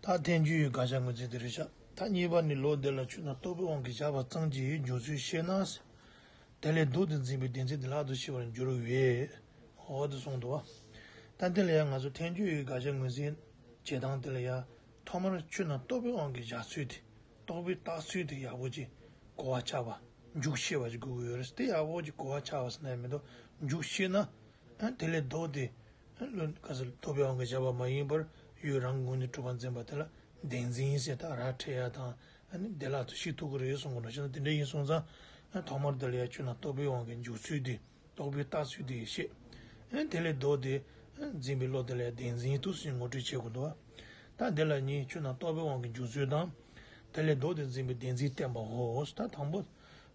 ད་ཐེངས་རྒྱུས་ཡོད་དགག་བྱ་ངོས་འཛིན་དེ་རེད་ཤག་ད་གཉིས་པ་ནི་ལོ་འདི་ལ་ཆུ་ནང་ལྟོ་བའི་དབང་གིས་བྱ་བ་གཙང་གྱི་ཡོད་འཇོག་ཚུལ་བཤད་ན་ཟེར། དེ་ལས་སྡུག་དེ་འཛིན་པའི་བདེན་ཚིག་དེ་ལྷག་ཏུ་ཤི་བར་འགྱུར་བས། འོ་དེ་གསུངས་འདུག་བ། ད་འདི་ལ་ཡང་ང་ཚོ་ཐེངས་རྒྱུས་ཡོད་དགག་བྱ་ངོས་འཛིན་བྱེད་སྟངས་དེ་ལ་ཡང་ཐོག་མར་ཆུ་ནང་ལྟོ་བའི་དབང་གིས་བྱ་ཚུལ་དེ་ལྟོ་བའི་བརྟག་ཚུལ་དེ་ཡག་པོ་ཅིག་གོ་བ་ཆགས་པ་འཇུག་ཤེས་པ་ཅིག་དགོས་ཀྱི་ཡོད་རེད་དེ་ཡག་པོ་ཅིག་གོ་བ་ཆགས་པ་ཟེར་ན་ཡང་མི་འདུག་འཇུག་ཤེས་ན། དེ་ལས་བཟློག་སྟེ། བློ་དཀར་ས་ལ་རྟོགས་པའི་དབང་གིས་བྱ་བ་མ་ཡིན་པར་ཡུལ་རང་གི་ངོས་ནས་གྲུབ་པར་འཛིན་པ་དེ་ལ་བདེན་འཛིན་ཡིན་ཟེར་དག་ར་བྲལ་ཡ་དང་བདེ་བླག་ཏུ་ཤིག་ཐུག་གི་རེད་གསུང་གི་ནོ་བྱས་ན་དེ་འདྲ་ཡིན་གསུང་ཙང། ཐོག་མར་འདི་ལ་ཡ་ཁྱོད་ལ་རྟོགས་པའི་དབང་གིས་འཇུག་ཚུལ་དེ་རྟོགས་པའི་བརྟགས་ཚུལ་དེ་བཤད། དེ་ལས་བཟློག་སྟེ། འཛིན་པའི་བློ་དེ་ལ་ཡ་བདེན་འཛིན་ཐུགས་སུ་ཡིན་ངོ་སྤྲོད་བྱེད་དགོས་འདུག་ད་འདི་ལ་གཉིས་ཁྱོད་ལ་རྟོགས་པའི་དབང་གིས་འཇུག་ཚུལ་དང། དེ་ལས་བཟློག་སྟེ་འཛིན་པའི་བདེན་འཛིན་བསྟན་པའོ། ད་དང་པོ།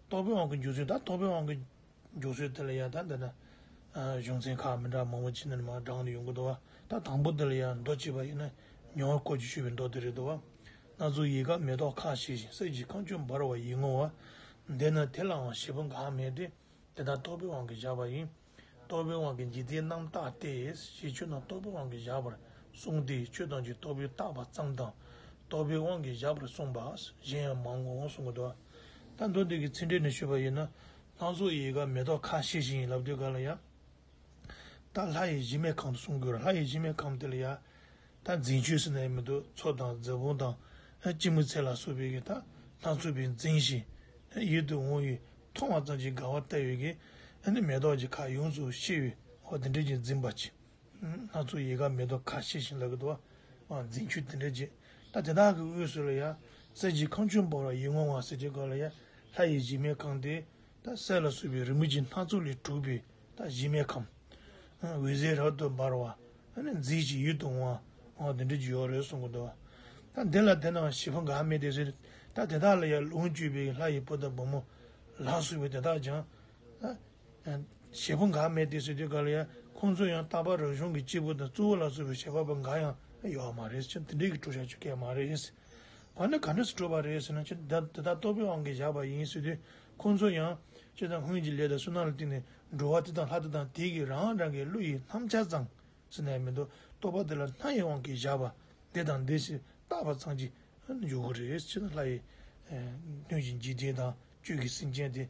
རྟོགས་པའི་དབང་གིས་འཇུག་ཚུལ་ད་རྟོགས་པའི་དབང་གིས། འཇུག་ཚུལ་འདི་ལ་ཡང་ད་འདི་ན་གཞུང་ཚན་ཁག་མི་འདྲ་མང་བོ་ཅི་ནས་མ་བགྲང་ནས་ཡོང་གི་འདུག་བ་ད་དང་པོ་འདི་ལ་ཡང་མདོ་ཅི་བ་ཡིན་ན་ཉོ་བར་ཀོ་ཅི་ཞུས་པའི་མདོ་དེ་རེད་འདུག་བ། སྣ་ཚུགས་ཡིད་དགའ་མེ་ཏོག་ཁ་བཞད་ཞིང་གསེར་གྱི་ཁང་ཆུ་འབར་བ་ཡིད་ངོ་བ། འདི་ན་དེ་ལའང་བཞེད་པོ་འགའ་མེད་དེ་འདི་ན་རྟོག་པའི་དབང་གིས་བཞག་པ་ཡིན། རྟོག་པའི་དབང་གིས་འཇིག་རྟེན་རྣམ་བརྟགས་ཏེ་ཞེས་ཆོས་རྣམས་རྟོག་པའི་དབང་གིས་བཞག་པར་གསུངས་སྟེ་ཆོས་ཐམས་ཅད་རྟོག་པས་བརྟགས་པ་ཙམ་དང། རྟོག་པའི་དབང་གིས་བཞག་པར་གསུངས་པ་གཞན་ཡང་མང་ངོ་གསུང་གི་འདུག་བ། ད་མདོ་སྡེ་དགེ་ཚེ་འཕྲིན་ནས་ཤོད་པ་ཡིན་ན། ལྷ་མཚོ་ཡི་ག་མེ་ཏོག་ཁ་བཞེས་ཤིང་ཡིན་ལབ་དུས་ག་ལ་ཡ། ད་ལྷ་ཡི་གཞི་མེད་ཁམས་སུ་སོང་དགོས་ལྷ་ཡི་གཞི་མེད་ཁམས་དེ་ལ་ཡ། ད་འཛིན་ཆོས་སེར་སྣའི་མི་དུ་མཚོ་དང་རྫི་བོང་དང། ཅི་མི་ཚེ་ལ་བསོད་པའི་གི་ད་ལྷ་མཚོ་བས་འཛིན་ཞིང། ཡིད་དུ་འོང་བའི་མཐོང་བ་ཙམ་གྱིས་དགའ་བ་ལྟ་བའི་གི། མེ་ཏོག་གི་ཁ་ཡོངས་སུ་ཤེས་བའི་ཧོ་དེ་འདྲས་ཀྱིས་འཛིན་པ་ཅི། སྣ་ཚོགས་ཡལ་ག་མེ་ཏོག་ཁ་བྱེ་བཞིན་ལ་གདུ་བ་འཛིན་ཁྱུ་དེ་འདྲའི་རྗེས་ད་དེ་དག་གི་དབུས་སུ་ལ་ཡ་གསེར་གྱི་ཁང་ཆུང་འབར་བ་ཡིད་ངོ་བ་སེར་གྱི་སྒོ་ལ་ཡ་ལྷ་ཡི་གཞི་མའི་ཁང་དེ་ད་གསེར་ལ་བསྲུབས་པའི་རི་མོ་བྱིན་སྣ་ཚོགས་ལས་གྲུབ་པའི་ད་གཞི་མའི་ཁམས། འོད་ཟེར་རབ་ཏུ་འབར་བ་མཉྫིའི་ཅིག་ཡུད་དུ་འོང་བ་འོང་བ་དེ་འདྲའི་ཡོ་རོའི་གསུང་གི་གདུ་བ། ད་འདི་ལ་དེ་རྣམས་བཞི་པོ་འགག་མེད་དེ་ཟེར་ད་དེ་དག་ལ་ཡ་ལུང་བཅུ་པའི་ལྷ་ཡི་བུ་དང་བུ་མོ་ལ་བསྲུབས་པའི་དེ་དག་ཀྱང། བྱེད་པོ་འགའ་མེད་དེ་ཟེར་དུས་ག་ལ་ཡ། ཁོང་ཚོས་ཡང་རྟག་པར་རང་གཞུང་གི་སྤྱིལ་བུ་དང་གཙོ་བོ་ལ་བཟོ་བའི་བྱ་བ་པོ་འགའ་ཡང་ཡོད་མ་རེད་ཅེ་འདི་འདྲས་ཀྱི་གྲོས་བཞག་ཆོད་སྐད་མ་རེད། བ་ནི་ག་འདྲས་སུ་གྲོས་པ་རེད་ཟེར་ན་ཅེ་འདི་དག་ལྟོ་ཕོད་ཨང་གིས་བཞག་པ་ཡིན་ཟེར་དུས་ཁོང་ཚོས་ཡང། ཅེ་དང་སྔོན་གྱི་ལས་དང་སུན་སྣང་ལ་བརྟེན་ནས་འགྲོ་བ་དེ་དང་ལྷ་དེ་དང་དེ་གིས་རང་རང་གི་བློ་ཡིས་ནམ་འཆར་ཙང་ཟེར་ནས་མི་འདུག་རྟོག་པ་དེ་ལ་སྣ་ཡི་དབང་གིས་བཞག་པ་འདི་དང་འདི་ཞེས་བརྟག་པ་ཙང་གྱིས་འཇུག་གི་རེད་ཅེ་ན་ལྷ་ཡི། སྣོད་ཀྱི་འཇིག་རྟེན་དང་བཅུད་ཀྱི་སེམས་ཅན་དེ།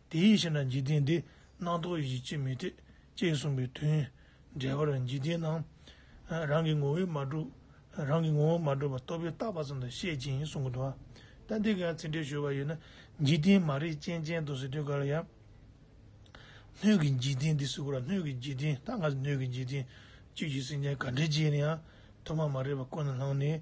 དེ་ཡིད་བྱེད་ན་འཇིག་རྟེན་འདི་སྣང་རྟོག་ཡིད་བྱེད་ཅེས་མི་འཐད་ཅེས་གསུངས་པའི་དོན། འགྲེལ་པར་འཇིག་རྟེན་ནང་རང་གི་ངོ་བོས་མ་གྲུབ། རང་གི་ངོ་བོ་མ་གྲུབ་པ་རྟོག་པས་བཏགས་པ་ཙམ་དུ་བཤད་ཅིང་གསུང་གི་འདུག་ཨ་ཏི་འདི་གའི་ཚིག་འགྲེལ་ཞུ་བ་ཡོད་ན་འཇིག་རྟེན་མ་རིག་ཅན་ཅན་དུ་ཟེར་དུས་ག་ལ་ཡག། སྣོད་ཀྱི་འཇིག་རྟེན་འདི་ཟེར་དགོས་ལ་སྣོད་ཀྱི་འཇིག་རྟེན་ད་སྔ་སྣོད་ཀྱི་འཇིག་རྟེན་བཅུད་ཀྱི་སེམས་ཅན་ག་འདྲའི་རྗེས་ནས་ཡང་ཐོག་མ་མ་རེད་པ་ཀུན་ལ་ལྷང་ནས་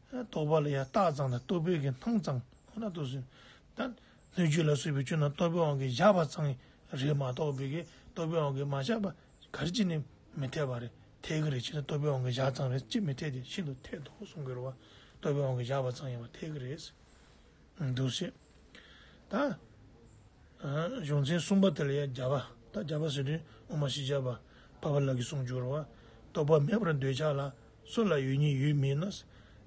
རྟོག་པ་ལ་ཡང་རྟགས་གཙང་དང་རྟོག་པའི་གི་སྣང་གཙང་ཁོ་ན་དུ་ཟིན། ད་སྣོད་བཅུད་ལ་སོགས་པའི་བཅུད་རྣམས་རྟོག་པའི་དབང་གིས་བཞག་པ་གཙང་རེད་མ་གཏོགས་པའི་གི་རྟོག་པའི་དབང་གིས་མ་བཞག་པ་གར་ཅི་ནས་མི་འཐད་པ་རེད་འཐད་གི་རེད་ཅེ་ན་རྟོག་པའི་དབང་གིས་བཞག་གཙང་རེད་ཅེས་མི་འཐད་དེ་ཤིན་ཏུ་འཐད་དོ་གསུང་གི་རེད་བ། རྟོག་པའི་དབང་གིས་བཞག་པ་གཙང་ཡིན་པ་འཐད་གི་རེད། འདུ་བྱེད་དང། གཞུང་ཚན་གསུམ་པ་དེ་ལ་ཡང་བརྒྱ་པ་དང་བརྒྱ་པ་ཟེར་དུས་འོག་མ་ཞི་བྱ་བ་བ་བ་ལ་གི་གསུངས་འགྱུར་བ། རྟོག་པ་མེད་པར་འདོད་ཆགས་ལ་སོགས་ལ་ཡོད་ཉིད་ཡོད་མིན་ན།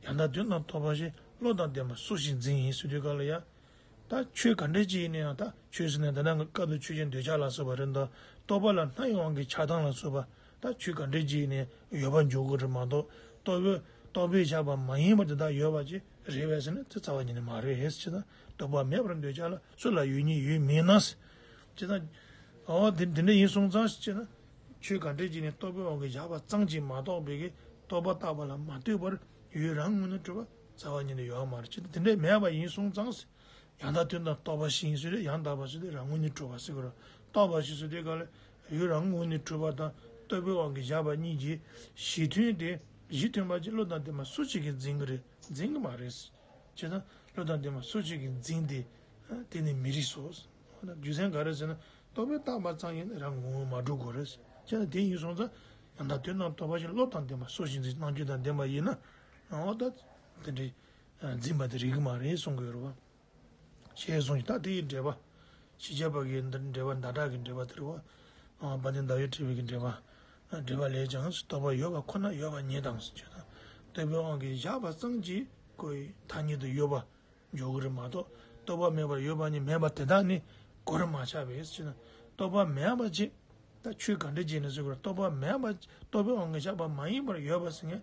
ཡང་དག་དོན་དང་ཐོབ་པ་ཞེས་བློ་དང་ལྡན་པ་སུ་ཞིག་འཛིན་ཡིན་ཟེར་དུས་ག་ལ་ཡ། ད་ཆོས་ག་འདྲའི་སྤྱི་ཡིན་ན་ཡང་དག་ཆོས་ཟེར་ནས་འདི་ན་སྐབས་འདིར་ཆོས་ཅན་འདོད་ཆགས་ལ་སོགས་པ་རེ་འདོད་རྟོག་པ་ལ་སྣ་ཡོངས་ཀྱི་ཆགས་སྡང་ལ་སོགས་པ་དང་ཆོས་ག་འདྲས་ཀྱིས་ནི་ཡོད་པར་འཇོག་གོ་རེད་མ་གཏོགས་རྟོག་པས་རྟོག་པས་བཞག་པ་མ་ཡིན་པར་དེ་དག་ཡོད་པ་ཅི་རེད་བས་ཟེར་ན་དེ་རྩ་བ་ཉིད་ནས་མ་རེད་ཧེས་ཅི་ན་རྟོག་པ་མེད་པར་འདོད་ཆགས་ལ་སུ་ལ་ཡོད་ཉིད་ཡོད་མིན་ན། ཅི་ན། འོ་དེ་དེ་འདྲ་ཡིན་སོང་ཙང་ཅི་ན། ཆོས་ག་འདྲས་ཀྱིས་ནི་རྟོག་པའི་དབང་གིས་བཞག་པ་ཙང་ཅི་མ་གཏོགས་བས་ཀྱི་རྟོག་པ་བཏགས་པ་ལ་མ་ལྟོས་པར་ཡུལ་རང་ངོ་ནས་སྤྲོས་པ་རྩ་བ་ཉིད་ནས་ཡོད་མ་རེད་ཅི་ན་དེ་འདྲ་མེད་པ་ཡིན་སོང་ཙང། ཡང་དག་དོན་དང་རྟོགས་པ་ཞིང་སུ་དེ་ཡང་དག་པར་སུ་དེ་རང་ངོ་ནི་གྲོལ་བ་སེ་གོལ་རོ། རྟོགས་པ་ཞིང་སུ་དེ་ག་ལ་ཡོད་རང་ངོ་ནི་གྲོལ་བ་དང་རྟོལ་པོའི་དབང་གིས་བཞག་པ་གཉིས་ཀྱི་གཞི་མཐུན་ཏེ་གཞི་མཐུན་པ་ཅི་བློ་དང་ལྡན་པ་སུ་གཅིག་གིས་འཛིན་གྱི་རེད་འཛིན་གྱི་མ་རེད། ཅེ་ན། བློ་དང་ལྡན་པ་སུ་གཅིག་གིས་འཛིན་ཏེ། དེ་ནི་མི་རིགས་སོ། རྒྱུ་མཚན་ག་རེ་ཟེར་ན་རྟོགས་པའི་རྟག་པ་ཙམ་ཡིན་ན་རང་ངོ་བོ་མ་གྲུབ་གོ་རེད། ཅེ་ན་དེ་ཡིན་སོང་ཙང་ཡང་དག་དོན་དང་རྟོགས་པ་ཅི་བློ་དང་ལྡན་པ་སུ་ཞིག་འཛིན་སྟངས་རྒྱུ་དང་ལྡན་པ་ཡིན་ན། འོ་ད། དེ་འདྲའི་འཛིན་པ་དེ་རིགས་མ་རེད་གསུང་གི་ཡོད་རེད། ཞེས་གསུང་ཞིང་ད་དེའི་འགྲེལ་པ། ཞི་བྱེད་པ་གི་འགྲེལ་པ་མདའ་དག་གི་འགྲེལ་པ་དེ་རེད། བ་དན་ཟླ་བའི་ཁྲི་བའི་གི་འགྲེལ་པ། འགྲེལ་པ་ལས་ཀྱང་རྟོགས་པ་ཡོད་པ་ཁོ་ན་ཡོད་པ་ཉིད་དང་ཞེས་བྱ། རྟོགས་པའི་དབང་གིས་བཞག་པ་ཙམ་གྱིས་གོ་ཡི་ཐ་སྙད་དུ་ཡོད་པ་འཇོག་གི་རེད་མ་གཏོགས་རྟོགས་པ་མེད་པར་ཡོད་པ་ཉིད་མེད་པ་དེ་དག་ནི་གོ་རེ་མ་ཆག་པས་ཕྱིན། རྟོགས་པ་མེད་པ་ཅེས་ད་ཆོས་ག་འདྲས་བྱས་ནས་གསོད་གི་རེད་རྟོགས་པ་མེད་པ་རྟོགས་པའི་དབང་གིས་བཞག་པ་མ་ཡིན་པར་ཡོད་པ་ཟེར་ངེས།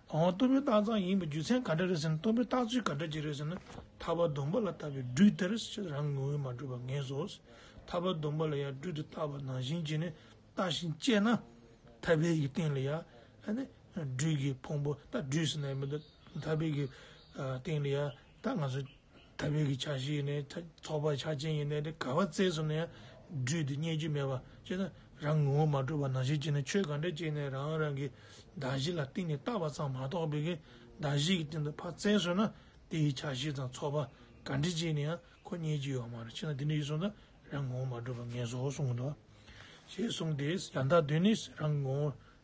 འོ་གཏུམ་པོའི་རྟགས་གཙང་ཡིན་པའི་རྒྱུ་མཚན་ག་འདྲ་རེད་ཟེར་ན་གཏུམ་པོའི་རྟགས་ཚུལ་ག་འདྲ་ཅིག་རེད་ཟེར་ན་ཐར་པ་སྡོམ་པ་ལ་བཏབ་པའི་སྦྲུལ་དེར་ཕྱིར་རང་ངོ་བོས་མ་གྲུབ་པར་ངེས་སོ། ཐར་པ་སྡོམ་པ་ལ་ཡང་སྦྲུལ་དུ་བཏགས་པ་ནང་བཞིན་གྱིས་ནི་བཏགས་ཤིང་བཅད་ན། ཐར་པའི་ཡི་སྟེང་ལ་ཡང་སྦྲུལ་གྱི་ཕུང་པོ་ལྟ་སྦྲུལ་ཟེར་ན་ཡང་མི་འདོད། ཐར་པའི་ཡི་སྟེང་ལ་ཡང་ད་ང་ཚོ་ད་བོད་ཀྱི་བྱ་ཞིག་ཡིན་ནའི་ཚོགས་པ་བྱ་ཅན་ཡིན་ནའི་དེ་ག་བ་བཙལ་སོང་ན་ཡང་འགྲུས་འདི་རྙེད་རྒྱུ་མེད་པ་ཅེ་ན་རང་ངོ་བོ་མ་གྲུབ་པ་ནང་བཞིན་བྱས་ན་ཆོས་ག་འདྲ་བྱས་ནས་རང་རང་གི་བདག་གཞི་ལ་གཏིང་ནས་བརྟག་པ་ཙང་མ་གཏོགས་བོད་ཀྱི་བདག་གཞི་གི་སྟེང་དུ་ཕར་བཙལ་སོང་ན་དེ་ཡི་བྱ་ཞིག་ཙང་ཚོགས་པ་ག་འདྲི་བྱས་ནས་ཡང་ཁོ་རྙེད་རྒྱུ་ཡོད་མ་རེད་ཅེ་ན་དེ་འདྲ་ཡིན་སོང་ན་རང་ངོ་བོ་མ་གྲུབ་པ་ངན་བཟོ་གསུངས་འདུག་ཞེས་གསུངས་ཏེ་ཡང་དག་དོན་ནི་རང་ངོ་བོ།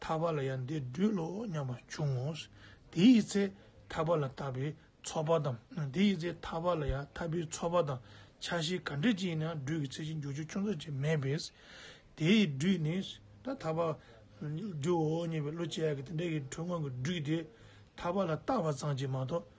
ཐར་པ་ལ་ཡང་འདི་སྦྲུལ་ལོ་སྙམ་པ་འབྱུང་ངོ། དེ་ཡི་ཚེ་ཐར་པ་ལ་ལྟ་བའི་ཚོགས་པ་དང། དེ་ཡི་ཚེ་ཐར་པ་ལ་ཡང་ཐར་པའི་ཚོགས་པ་དང་ཆ་ཤས་ག་འདྲས་ཅན་ཡིན་ནའང་སྦྲུལ་གྱི་ཚེ་ཆེ་འགྱུར་ཆེ་ཆུང་ཚོད་ཅིག་མེད་པས། དེ་ཡི་སྦྲུལ་ནི། ད་ཐར་པ་སྦྲུལ་འོ་སྙམ་པའི་བློ་ཅི་ཡག་གི་དེ་འདྲ་ཡི་གྲོགས་སྔོན་གྱི་སྦྲུལ་དེ་ཐར་པ་ལ་ལྟ་བ་ཙམ་གྱིས་མ་གཏོགས་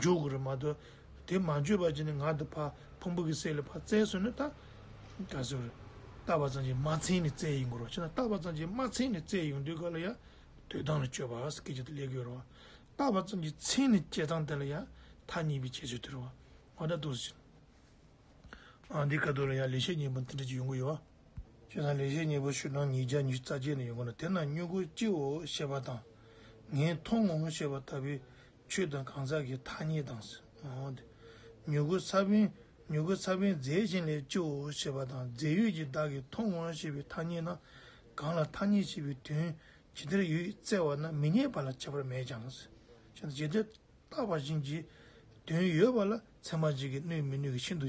འཇུག་དགོས་རེད་མ་གཏོགས་དེ་མ་བརྗོད་པར་ཅི་ནས་ངག་འདི་ཕག་ཕུང་པོ་གི་སྲས་ལས་ཕག་བཙལ་ཟོས་ནས་ད་ག་ཟེ་རེད། བཏགས་པ་ཙམ་གྱིས་མ་འཚལ་ནས་བཙལ་ཡི་དགོས་རོགས་ཕྱིན་ན་བཏགས་པ་ཙམ་གྱིས་མ་འཚལ་ནས་བཙལ་ཡོང་དུས་ག་ལ་ཡ། དུས་ཐང་ལ་སྤྱོད་པ་སྐད་ཅིག་ཏུ་ལེགས་དགོས་རོགས། བཏགས་པ་ཙམ་གྱིས་འཚལ་ནས་བཅད་ཐང་དེ་ལ་ཡ། མཐའ་གཉིས་པའི་བྱེད་སྤྱོད་དེ་རོགས། ང་ད་དུ་ཟིན། ཨ་འདི་ག་དུས་ལ་ཡ་ལས་བྱེད་གཉིས་པོ་འདི་འདྲ་ཅིག་ཡོང་གི་ཡོད། ཁྱེད་རང་ལས་བྱེད་གཉིས་པོ་ཤུལ་ནང་ཉིས་བརྒྱ་ཉིས་རྩ་བརྒྱད་ནས་ཡོང་གི་འདུག་དེ་ན་སྨྱུ་གུ་སྤྱི་བོ་ཞེས་པ་དང། ངས་མཐོང་ངོ་ཞེས་པ་ལྟ་བུའི་ཆོས་དང་གང་ཟག་གི་ཐ་སྙད་དང། མྱུ་གུ་ས་བོན་མྱུ་གུ་ས་བོན་རྫས་གཞན་ལས་བཅུའོ་ཞེས་པ་དང་རྫས་ཡོད་ཀྱི་བདག་གིས་མཐོང་ངོ་ཞེས་པའི་ཐ་སྙད་ན་གང་ལ་ཐ་སྙད་བྱས་པའི་དོན་ཇི་ལྟར་ཡོད་བཙལ་བ་ན་མི་རྙེད་པ་ལ་ཁྱད་པར་མེད་ཀྱང། ཇི་ལྟར་བརྟགས་པ་བཞིན་གྱི་དོན་ཡོད་པ་ལ་ཚད་མ་གཅིག་གིས་གནོད་མི་གནོད་ཀྱི་ཤིན་ཏུ་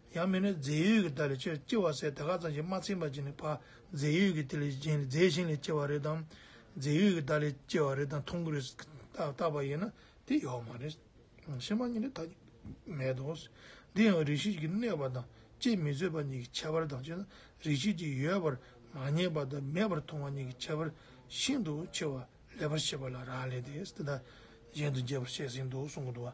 ཡང་མིན་ནོ་རྫས་ཡོད་ཀྱི་བདག་ལས་སྐྱེ་བ་བསལ་བདག་ཁ་ཙམ་ཞིག་མ་ཚིམ་པར་གྱིས་ནི་བར་རྫས་ཡོད་ཀྱི་དེ་ལས་གཞན་ལས་རྫས་གཞན་ལས་སྐྱེ་བ་རེ་དང། རྫས་ཡོད་ཀྱི་བདག་ལས་སྐྱེ་བ་རེ་དང་མཐོང་གི་རེས་བཏགས་པ་ཡིན་ན་དེ་ཡོད་མ་རེད། ཕྱི་མ་གཉིས་ནི་ཐ་སྙད་མེད་དོ། འདི་ཡང་རིག་བྱེད་ཀྱི་གནས་པ་དང་དཔྱད་མི་བཟོད་པ་གཉིས་ཀྱི་ཁྱད་པར་དང་བཅས་ན་རིག་བྱེད་ཀྱི་ཡོད་པར་མ་ངེས་པ་དང་མེད་པར་མཐོང་བ་གཉིས་ཀྱི་ཁྱད་པར་ཤིན་ཏུ་ཆེ་བ་ལེགས་པར་བཤད་པ་ལ་རག་ལས་ཏེ་འདི་དང་གཞན་དུ་རྒྱས་པར་བཤད་ཟིན་ཏོ་གསུང་གི་འདུག་བ།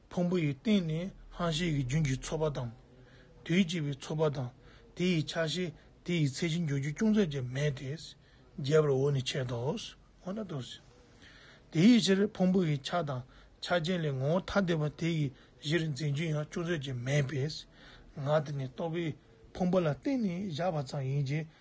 ཕུང་པོ་ཡི་སྟེང་ནས་ལྷང་བཤེར་གྱི་རྒྱུན་གྱི་ཚོར་བ་དང། དུས་གཅིག་པའི་ཚོར་བ་དང་དེ་ཡི་ཆ་ཤས་དེ་ཡི་ཚད་གཞི་འཇོག་རྒྱུ་ཅུང་ཟད་ཀྱང་མེད་དེ། རྒྱས་པར་འོག་ནས་འཆད་དོ། དེའི་ཕྱིར་ཕུང་པོ་ཡི་ཆ་དང་ཆ་ཅན་ལས་ངོ་བོ་ཐ་དད་པ་དེ་ཡི་གཞིར་འཛིན་རྒྱུ་ཡང་ཅུང་ཟད་ཀྱང་མེད་པས། ངག་དེ་ནི་རྟོག་པའི་ཕུང་པོ་ལ་བརྟེན་ནས་བཞག་པ་ཙམ་ཡིན་གྱི་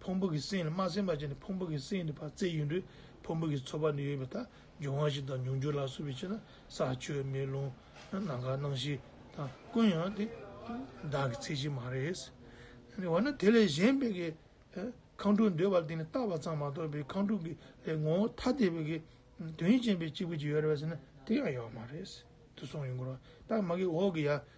ཕུང་པོ་གི་སེམས་ལ་མ་སེམས་པ་ཅན་ནི་ཕུང་པོ་གི་སེམས་ཀྱི་བར་རྩེ་ཡུལ་འདྲེས་ཕུང་པོ་གི་ཚོར་བ་ནི་ཡོད་པའི་ལྟ་འབྱུང་བ་ཞིག་དང་མྱོང་འགྱུར་ལ་སོགས་པའི་ཕྱིར་ན་ས་ཆུ་མེ་རླུང་ནམ་མཁའ་སྣང་བཞི་དང་ཀུན་ཡང་དེ་བདག་གི་ཚད་ཅིག་མ་རེད། འོ་ན་དེ་ལས་གཞན་པའི་གི་ཁམས་དྲུག་འདོད་པར་དེ་ནི་བཏགས་པ་ཙམ་མ་གཏོགས་པའི་ཁམས་དྲུག་གི་ལས་ངོ་བོ་ཐ་དད་པའི་གི་དོན་ཅན་པའི་གཅིག་པུ་ཅིག་ཡོད་རེད་པ་ཟེར་ན་དེ་ཡང་ཡོད་མ་རེད་དུ་སོང་ཡོད་དགོས་རོགས་ད་མ་གི་འོག་གི་ཡ་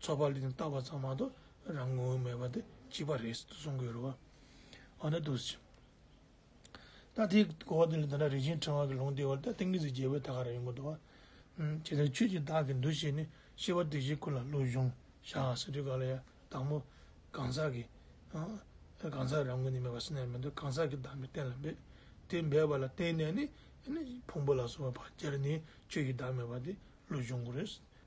ཚོགས་པ་ལས་བཏགས་པ་ཙམ་མ་གཏོགས་རང་ངོ་བོ་མེད་པ་དེ་གཅིག་པ་རེད་ཟེར་དུ་གསུང་དགོས་རུང་བ། འོ་ན་དུས་ཕྱིས། ད་དེའི་གོ་བ་དེ་ལས་ད་ལྟ་རིན་ཆེན་ཕྲེང་བ་གི་ལུང་བསྟན་བར་ད་ཏིང་ངེ་འཛིན་རྒྱལ་པོའི་ཐ་ག་རང་ཡིན་པ་འདུག་ཨ། ཇི་ལྟར་ཁྱོད་ཀྱིས་བདག་གི་འདུ་ཤེས་ནི་ཤེས་པ་དེ་བཞིན་ཁུར་ལ་བློ་གཞུང་བཞག་ཟེར་དུས་ག་ལ་ཡ་བདག་མོ། གང་ཟག་གི། གང་ཟག་རང་ངོ་ནས་མེད་པ་སེམས་ནས་མི་འདོད་གང་ཟག་གི་བདག་མེད་གཏན་ལ་འབེབས། དེ་འབེབས་པ་ལ་བརྟེན་ནས་ནི། ཕུང་པོ་ལ་སོགས་པའི་བག་ཆགས་ནི་ཁྱོད་ཀྱི་བདག་མེད་པ་དེ་བློ་གཞུང་གོ་རེ།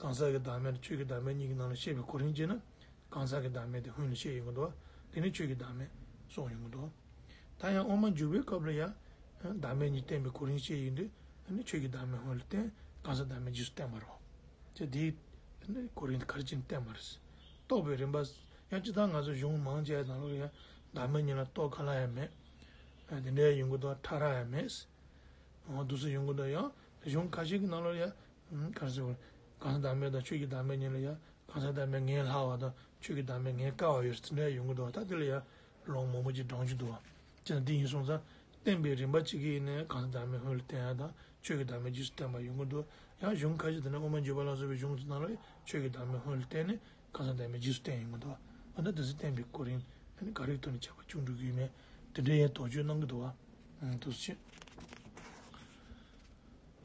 གང་ཟག་གི་བདག་མེད་དང་ཆོས་ཀྱི་བདག་མེད་གཉིས་ཀྱི་ནང་ལ་བཤད་པའི་གོ་རིམ་བཅས་ན། གང་ཟག་གི་བདག་མེད་དེ་སྔོན་ལ་བཤད་ཡོད་མགོ་འདོགས། དེ་ནས་ཆོས་ཀྱི་བདག་མེད། སོགས་ཡོད་མགོ་འདོགས། ད་ཡང་དབུ་མ་འཇུག་པའི་སྐབས་ལ་ཡང། བདག་མེད་གཉིས་བསྟན་པའི་གོ་རིམ་བཤད་ཡོད་དུས། ཆོས་ཀྱི་བདག་མེད་སྔོན་ལ་བསྟན། གང་ཟག་བདག་མེད་རྗེས་སུ་བསྟན་པར་རོ། ཅེས་དེའི། གོ་རིམ་གར་སྤྱིར་བསྟན་པར། རྟོགས་པའི་རིམ་པ། ཡང་ཅི་ལྟར་ང་ཚོ་གཞུང་མང་ཅའི་དང་ལོགས་ལ་ཡང། བདག་མེད་གཉིས་ལ་རྟོགས་ག་ལ་ཡང་མེད། དེ་འདྲའི་ཡོད་མགོ་འདོགས་ཕྲ་རགས་ཡང་མེད། འོ་དུ་སོགས་ཡོད་མགོ་འདོགས་ཡང། གཞུང་ཁ་ཤས་ཀྱི་ནང་ལོགས་ལ་ཡང། གར་སེར་བ། གང་ཟག་བདག་མེད་དང་ཆོས་ཀྱི་བདག་མེད་གཉིས་ལ་ཡང་གང་ཟག་བདག་མེད་ངན་ལྷག་བ་དང་ཆོས་ཀྱི་བདག་མེད་ངན་དཀར་བ་ཡོད་ཟེར་ན་ཡང་ཡོང་གི་འདུག་ད་དེ་ལ་ཡང་ལོང་མང་པོ་ཅིག་བགྲང་རྒྱུ་འདུག་བ། ཅི་ལ་འདི་ཡིན་སོང་ཙང་བསྟན་པའི་རིམ་པ་གཅིག་གིས་ནི་གང་ཟག་བདག་མེད་ཧོལ་བསྟན་ཡང་དང་ཆོས་ཀྱི་བདག་མེད་རྗེས་སུ་བསྟན་པ་ཡོང་གི་འདུག་ཡང་གཞུང་ཁ་ཤས་དེ་ན་དབུ་མ་འཇུག་པ་ལ་སོགས་པའི་གཞུང་ཚོ་ནང་ལ་ཆོས་ཀྱི་བདག་མེད་ཧོལ་བསྟན་ནི་གང་ཟག་བདག་མེད་རྗེས་སུ་བསྟན་ཡོང་གི་འདུག་བ། འོ་ན་དེ་ཚོ་བསྟན་པའི་སྐོར་ཡིན་ནི་ག་རེའི་ཐོག་ནས་བྱས་པ་ཅུང་འགྲིག་གི་ཡོད་མེད་དེ་འདྲའི་ཡང་དོགས་གཅོད་གནང་གི་འདུག་བ། དུས་ཚོད་ཕྱིན།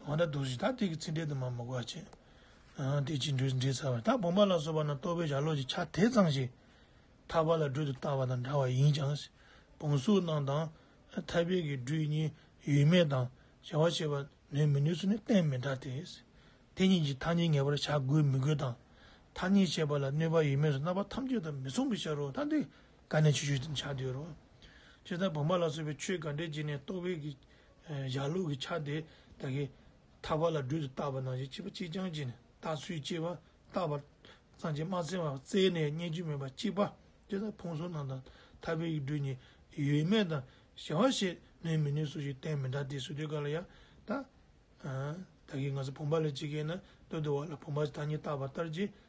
མ་ད་དུ་ཞིག་ད་དེ་གི་ཚིག་འགྲེལ་དུ་མ་མི་གོ་བར་བྱེད། དེ་ཅིས་འགྲེལ་ཚར་བ་ད་བུམ་པ་ལ་སོགས་པ་ན་རྟོག་པའི་ཞར་ལོག་ཅིག་ཆ་དེ་ཚང་ཞིག་ཐར་པ་ལ་སྦྲུལ་དུ་བཏགས་པ་དང་འདྲ་བ་ཡིན་ཀྱང། བུམ་གཟུགས་རྣམས་དང། ཐར་པའི་གི་སྦྲུལ་གཉིས་ཡོད་མེད་དང་བྱ་བ་བྱེད་པ་ནུས་མི་ནུས་སུ་ནི་གཏན་མི་འདྲ་སྟེ། དེ་གཉིས་ཀྱི་ཐ་སྙད་ངེས་པར་བྱ་དགོས་མི་དགོས་དང། ཐ་སྙད་བྱེད་པ་ལ་གནོད་པ་ཡོད་མེད་སོགས་རྣམ་པ་ཐམས་ཅད་དང་མི་མཚུངས་པའི་ཕྱིར་རོ་ད་འདི་ག་ནས་ཆོས་ཞུ་ཅིང་བྱ་འདོད་རོ། ཅེས་ད་བུམ་པ་ལ་སོགས་པའི་ཆོས་ག་འགྲེལ་བྱས་ནས་རྟོག་པའི་གི་བཞག་ལུགས་ཀྱི་ཆ་དེ་དག་གིས་ཐར་པ་ལ་སྦྲུལ་དུ་བཏགས་པ་ནང་བཞིན་གཅིག་པ་གཅིག་རྐྱང་གཅིག་ནས་བཏགས་ཚུལ་གཅིག་པ་བཏགས་པར་གཙང་ཆེན་སྨྲ་སེང་བ་རྩེ་ནས་རྙེད་རྒྱུ་མེད་པ་གཅིག་པ་དེ་དག་ཕུང་སོགས་རྣམས་དང་ཐར་པའི་ཡིག་འབྲུ་གཉིས་ཡོད་མེད་དང་གཞལ་བ་ཞེས་ནོས་མི་ནོས་སུ་ཞིག་བསྟན་མི་འདྲ་སྟེ་སུ་དེ་ག་ལ་ཡང་དག་གིས་ང་ཚོ་བུམ་པ་ལས་ཇི་སྐད་ན་སྟོད་དུ་བ་ལ་བུམ་པ་ཞེས་ཐ་སྙད་བཏགས་པ་ལྟར་གྱི